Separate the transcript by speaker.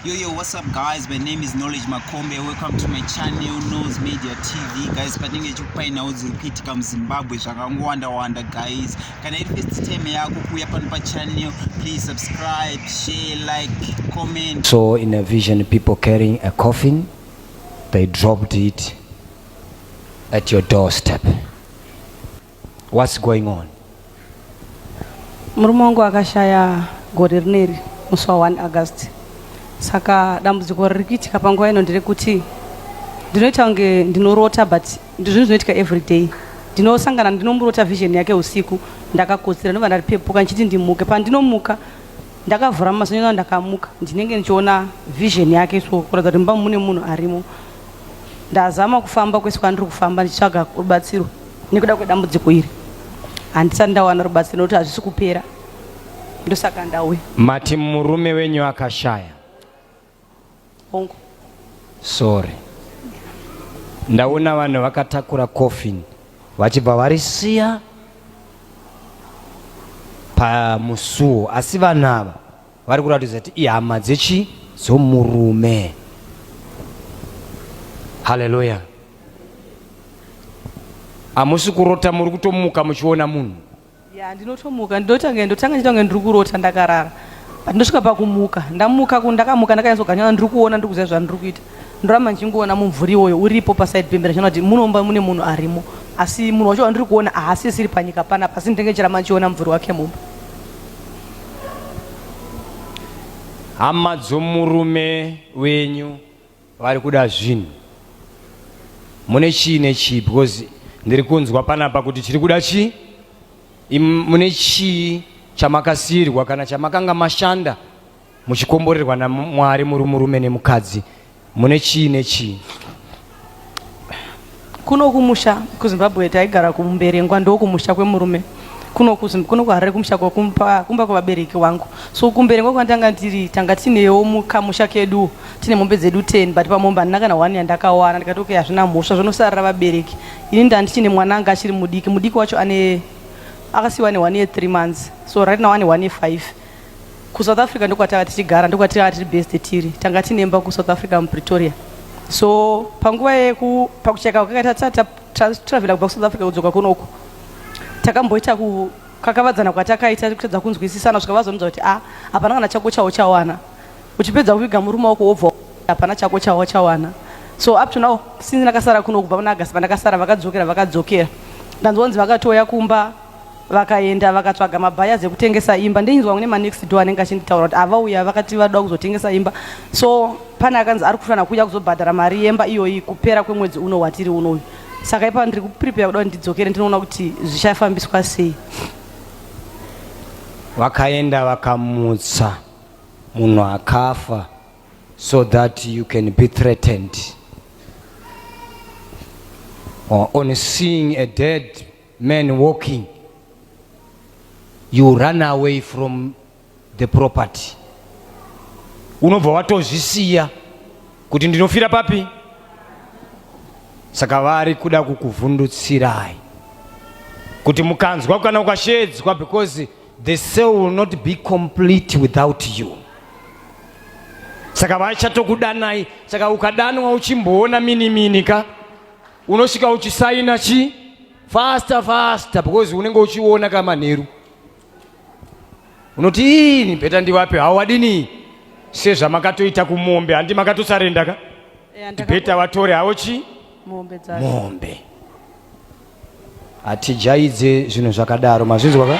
Speaker 1: Yo, yo, what's up guys? My name is Knowledge Makombe. Welcome to my channel, Nose Media TV. Guys, patinenge chikupainawo dziri kuitika muZimbabwe zvakangowanda-wanda guys. Kana iri first time yako kuuya pano pachannel, please subscribe, share, like, comment. So in a vision,
Speaker 2: people carrying a coffin, they dropped it at your doorstep. What's going on? Murume
Speaker 3: wangu akashaya gore rineri musi wa 1 August. Saka dambudziko riri kuitika panguva ino nderekuti ndinoita kunge ndinorota but ndizvinhu zvinoitika every day. Ndinosangana ndinomurota vision yake usiku ndakakotsira ndobva ndaripepuka ndichiti ndimuke pandinomuka ndakavhura maziso ndakamuka ndinenge ndichiona vision yake so kuratidza kuti mumba mune munhu arimo Ndazama kufamba kwese kwandiri kufamba ndichitsvaga rubatsiro nekuda kwedambudziko iri. Handisati ndawana rubatsiro nokuti hazvisi kupera. Ndosaka ndauya. Mati murume
Speaker 2: wenyu akashaya?
Speaker 3: Hongu.
Speaker 2: Sorry. Ndaona vanhu vakatakura coffin vachibva varisiya pamusuwo asi vanhu ava vari kuratidza kuti ihama dzechi dzomurume haleluya hamusi kurota muri kutomuka muchiona munhu ya ndinotomuka
Speaker 3: ndinotanga ndotanga ndiita kunge ndiri kurota ndakarara but ndosvika pakumuka ndamuka ku ndakamuka ndakanyatsoganyaa ndiri kuona ndiri kuziva zvandiri kuita ndoramba ndichingoona mumvuri iwoyo uripo paside pembera chinoona kuti munomba mune munhu arimo asi munhu wacho wandiri kuona haasisiri panyika panapa asi ndinenge ndichiramba ndichiona mumvuri wake mumba
Speaker 2: hama dzomurume wenyu vari kuda zvinhu mune chii nechii because ndiri kunzwa panapa kuti chiri kuda chii mune chii chamakasiyirwa kana chamakanga mashanda muchikomborerwa namwari muri murume nemukadzi Mune chii nechii?
Speaker 3: Kuno kumusha kuZimbabwe taigara kuMberengwa ndokumusha kwemurume kuno kuno kuHarare kumusha kumba kumba kwevabereki wangu so kuMberengwa kwandanga ndiri tanga tinewo mukamusha kedu tine mombe dzedu 10 but pamombe handina kana one yandakawana ndikati okay hazvina mhosva zvonosarira vabereki ini ndandichine mwana anga achiri mudiki mudiki wacho ane akasiwa ane one year three months so right now ane one year five Ku South Africa ndokwatanga tichigara ndokwatanga tiri based tiri tanga tinemba ku South Africa mu Pretoria so panguva yeku pakucheka kwakaita tata travela kubva ku South Africa kudzoka kunoku takamboita ku kakavadzana kwatakaita kutadza kunzwisisana svika vazonudza kuti a ah, hapana kana chako chawo chawana uchipedza kuviga murume wako wobva hapana chako chawo chawana so up to now since ndakasara kuno kubva muna agasi vandakasara vakadzokera vakadzokera ndanzwa kunzi vakatouya kumba Vakaenda vakatsvaga mabuyers ekutengesa imba ndeinzwa kune manext door anenge achinditaura kuti avauya vakati vadoda kuzotengesa imba so pane akanzi ari kufanira kuuya kuzobhadhara mari yemba iyoyi kupera kwemwedzi uno watiri unoyu saka ipa ndiri kuprepare kuda kuti ndidzokere ndinoona kuti zvichafambiswa sei
Speaker 2: vakaenda vakamutsa munhu akafa so that you can be threatened or on seeing a dead man walking you run away from the property unobva watozvisiya kuti ndinofira papi saka vari kuda kukuvhundutsirai kuti mukanzwa kana ukashedzwa because the cell will not be complete without you saka vachatokudanai saka ukadanwa uchimboona mini mini ka unosvika uchisaina chi faster faster because unenge uchiona ka manheru unoti ini bheta ndivapi hawadini sezvamakatoita kumombe handi makatosarenda ka bheta vatore hawo chi mombe hatijaidze zvinhu zvakadaro mazvinzwa ka